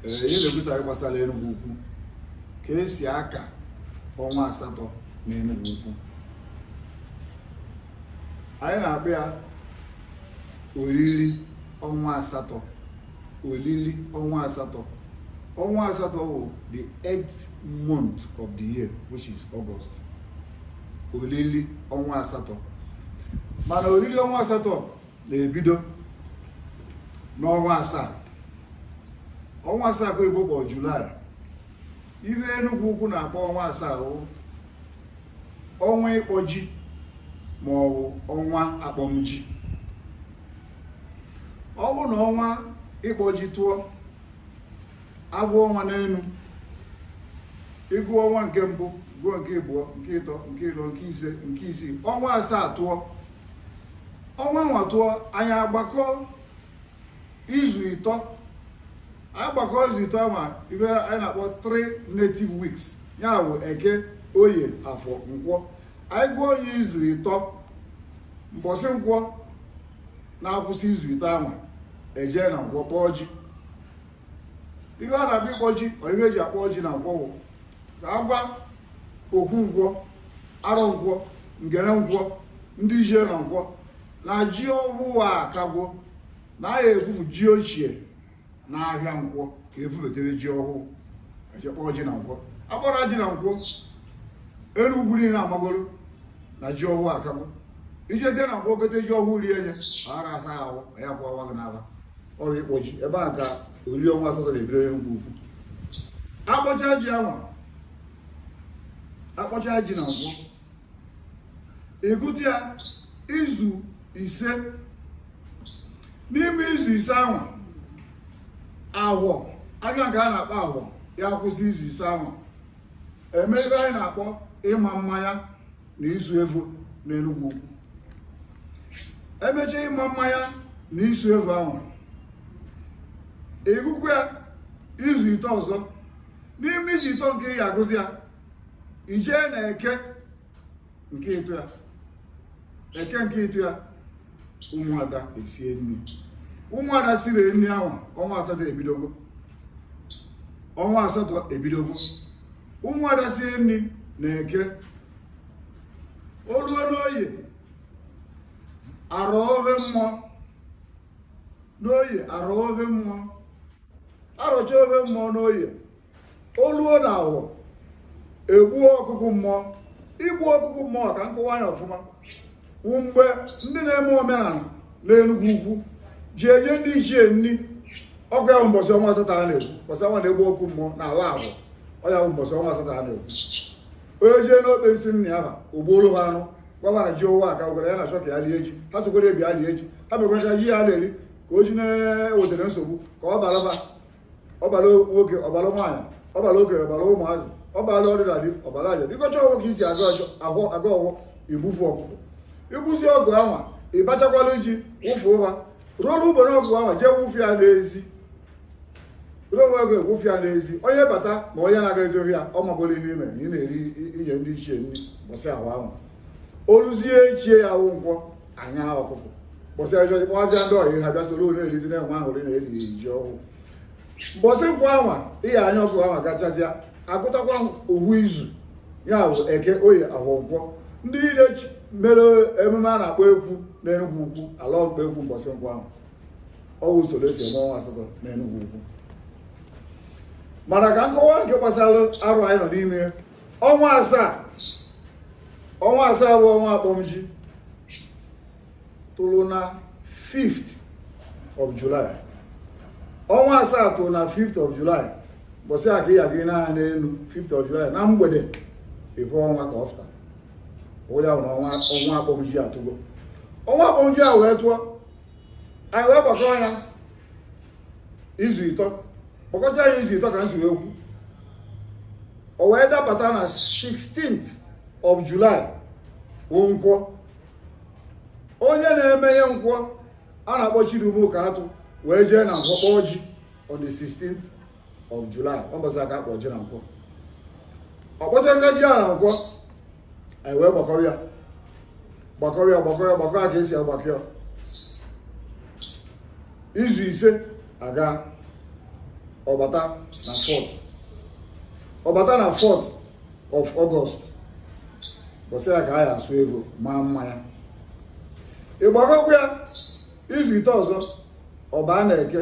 ihe na-ekwute gbasara Enugwu Ukwu ka esi aka ọnwa asatọ na Enugwu Ukwu anyị na-akpọ ya oriri ọnwa asatọ oriri ọnwa asatọ ọnwa asatọ bụ the eighth month of the year which is August oriri ọnwa asatọ mana oriri ọnwa asatọ na-ebido n'ọnwa asaa ọnwa asaa ka oyibo kpọọ July ihe Enugwu ukwu na-akpọ ọnwa asaa bụ ọnwa ịkpọ ji ma ọ bụ ọnwa akpọmji ọ bụ na ọnwa ịkpọ ji tụọ agụ ọnwa n'enu ịgụ ọnwa nke mbụ gụọ nke ịbụọ nke ịtọ nke ịnọ nke ise nke isii ọnwa asaa tụọ ọnwa anwa tụọ anyị agbakọ izu ịtọ anyị gbakọ izu ịtọ anwa ive anyị na-akpọ three native weeks ya bụ eke oye afọ nkwọ anyị gụọ onye izu ịtọ mbọsị nkwọ na-akwụsị izu ịtọ anwa ejee na nkwọ kpọọ ji ive a na-abịa ịkpọ ji ọ ive eji akpọ ji na nkwọ bụ ka agwa okwu nkwọ arọ nkwọ ngene nkwọ ndị ichie na nkwọ na ji ọhụụ akagwo na a ga-evufu ji ochie na ahịa nkwọ ka evubetere ji ọhụụ ejee kpọọ ji na nkwọ akpọrọ ji na nkwọ Enugwu niile amagoro na ji ọhụụ akagwo ijezie na nkwọ gote ji ọhụụ rie nye ara asa ahụ ya kwa ọwa gị n'aba ọ bụ ịkpọ ji ebe a ka oriri ọnwa asatọ na-ebido n'Enugwu Ukwu akpọcha ji anwa akpọcha ji na nkwọ ịgụta ya izu ise n'ime izu ise anwa ahọ aga nke a na-akpọ ahọ ya-akwụsị izu ise anwa emee ive anyị na-akpọ ịma mmanya na isu evu n'Enugwu Ukwu emechaa ịma mmanya na isu evu anwa ịgụkwu ya izu ịtọ ọzọ n'ime izu ịtọ nke ị ya-agụzi ya ijee na eke nke ịtọ ya eke nke ịtọ ya ụmụada esie nni ụmụada siri nni anwa ọnwa asatọ ebidogo ọnwa asatọ ebidogo ụmụada sie nni na eke oluo n'oye arọ ove mmụọ n'oye arọ ove mmụọ arọcha ofe mmụọ n'oye oluo na awọ egbuo ọkụkụ mmụọ igbu ọkụkụ mmụọ ka m kọwaa ya ọfụma wụ mgbe ndị na-eme omenala n'enugwu ukwu ji enye ndị ichie nri ọ kwa ya bụ mbọchị ọnwa asatọ a na-ekwu mbọchị anwa a na-egbu ọkụkụ mmụọ na ala abụọ ọ ya bụ mbọchị ọnwa asatọ a na-ekwu onye jee n'okpesi nna ya ha ogbuolu ha anụ gwagwara ji owe aka gwara ya na achọ ka ya lie ji ha sokwara ebi ya lie ji ha mekwara ji ya na-eri ka o ji na-ewetara nsogbu ka ọ balaba ọ bara nwoke ọ bara nwaanyị ọ bara okenye ọ bara ụmụazị ọ bara ọdịda dị ọ bara aja ị gọcha ọwọ ka esi agọ ọchọ ahụ agọ ọwọ igbufu ọkụkọ igbuzie ọkụ anwa ịbachakwala ji wụfu ụha ruo ugbene ọkụ anwa jee wụfu ya n'ezi ruo onwe ego egwufu ya n'ezi onye bata ma onye na-aga ezi ọ hụ ya ọ magoro ihe i me na ị na-eri inye ndị ichie nri mbọsị ahụ anwa oluzie echi ya wụ nkwọ anya ọkụkụ mbọsị a jọjị kpọazịa ndị ọyị ha bịa soro na-erizi na-enwe aṅụrị na-eri ji ọhụụ mbọsị nkwọ anwa ihe anya ọkụ anwa gachazịa agụtakwa owu izu ya bụ eke oye ahọ nkwọ ndị niile mere emume a na-akpọ ekwu na enugwu ukwu alọ ọkpọ ekwu mbọsị nkwọ ahụ ọ wụ usoro esi eme ọnwa asatọ na enugwu ukwu mana ka m kọwaa nke gbasara arọ anyị nọ n'ime ọnwa asaa ọnwa asaa bụ ọnwa akpọmji tụrụ na 5th of July ọnwa asaa tụrụ na 5th of July bọsị a ka ị ya-aga nee anya n'elu 5th of July na mgbede ị hụ ọnwa ka ọ fụta ọ wụrụ na ọnwa akpọmji atụgo ọnwa akpọmji a wee tụọ anyị wee gbakọrọ ya izu ịtọ gbakọta ya izu ịtọ ka m si wee kwu o wee dapụta na 16th of July wụ nkwọ onye na-eme ihe nkwọ a na-akpọ Chidume Ụkatụ wee jee na nkwọ kpọọ ji on the 16th of July ọ bọsị a ka a kpọ ji na nkwọ ọ kpọchazie ji na nkwọ anyị wee gbakọọ ya gbakọọ ya ka esi agbakọ ya izu ise aga ọ bata na 4th ọ bata na 4th of August bọsị ya ka a ya-asụ ego maa mmanya ịgbakọkwa ya izu ịtọ ọzọ ọ baa na eke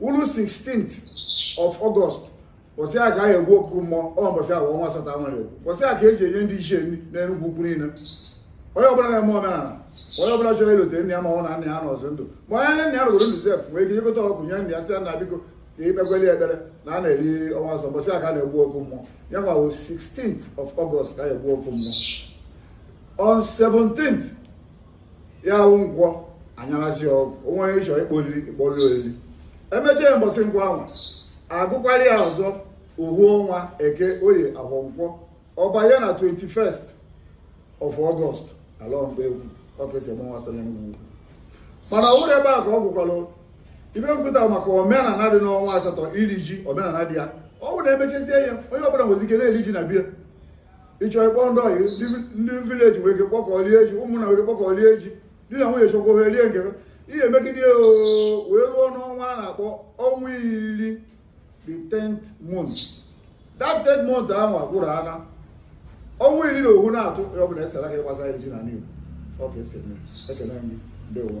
wụrụ 16th of August bọsị a ka a ya-egbu ọkụkụ mmụọ ọ bọsị a ọnwa asatọ a na-ekwu bọsị a ka eji enye ndị ichie nri n'Enugwu ukwu niile onye ọbụla na-eme omenala onye ọbụla chọrọ ilote nne ya ma ọ na nna ya anọzịrọ ndụ ma onye nna ya nọgoro ndụ sef nwee ike igota ọkụkụ nye nna ya sị ya na biko ka ikpekweli ekpere na a na-eri ọnwa asatọ bọsị a ka a na-egbu ọkụkụ mmụọ ya wụ 16th of August ka a ya-egbu ọkụkụ mmụọ on 17th ya wụ nkwọ anyarazi ọgwụ o nwee onye chọrọ ịkpọ oriri ịkpọ oriri oriri emechaa ya mbọsị nkwọ ahụ agụkwara ya ọzọ ohu ọnwa eke oye ahọ nkwọ ọ banye na 21st of August ala mgbe egwu ọkesịmụnwasịrị ngwugwu mana ọhụrụ ebe a ka ọ gwụkwalụ ihe m kwuta maka omenala dị n'ọnwa asatọ iri ji omenala dị ya ọ bụrụ na emechezie ya onye ọbụla nwezi ike na-eri ji na be ya ị chọọ ịkpọ ndị ọyị ndị vileji nwere ike kpọkọ lie ji ụmụnna nwere ike kpọkọ lie ji di na nwunye chọkwa ohe rie nke ha. ihe emegide ya oo wee ruo n'ọnwa a na-akpọ ọnwa iri the 10th month that 10th month ahụ agwụrụ ana ọnwa iri na ohu na-atụ ya ọ bụla esara ka ịgbasa iri ji na n'igbo ọ ka e si eme ekele anyị ndewo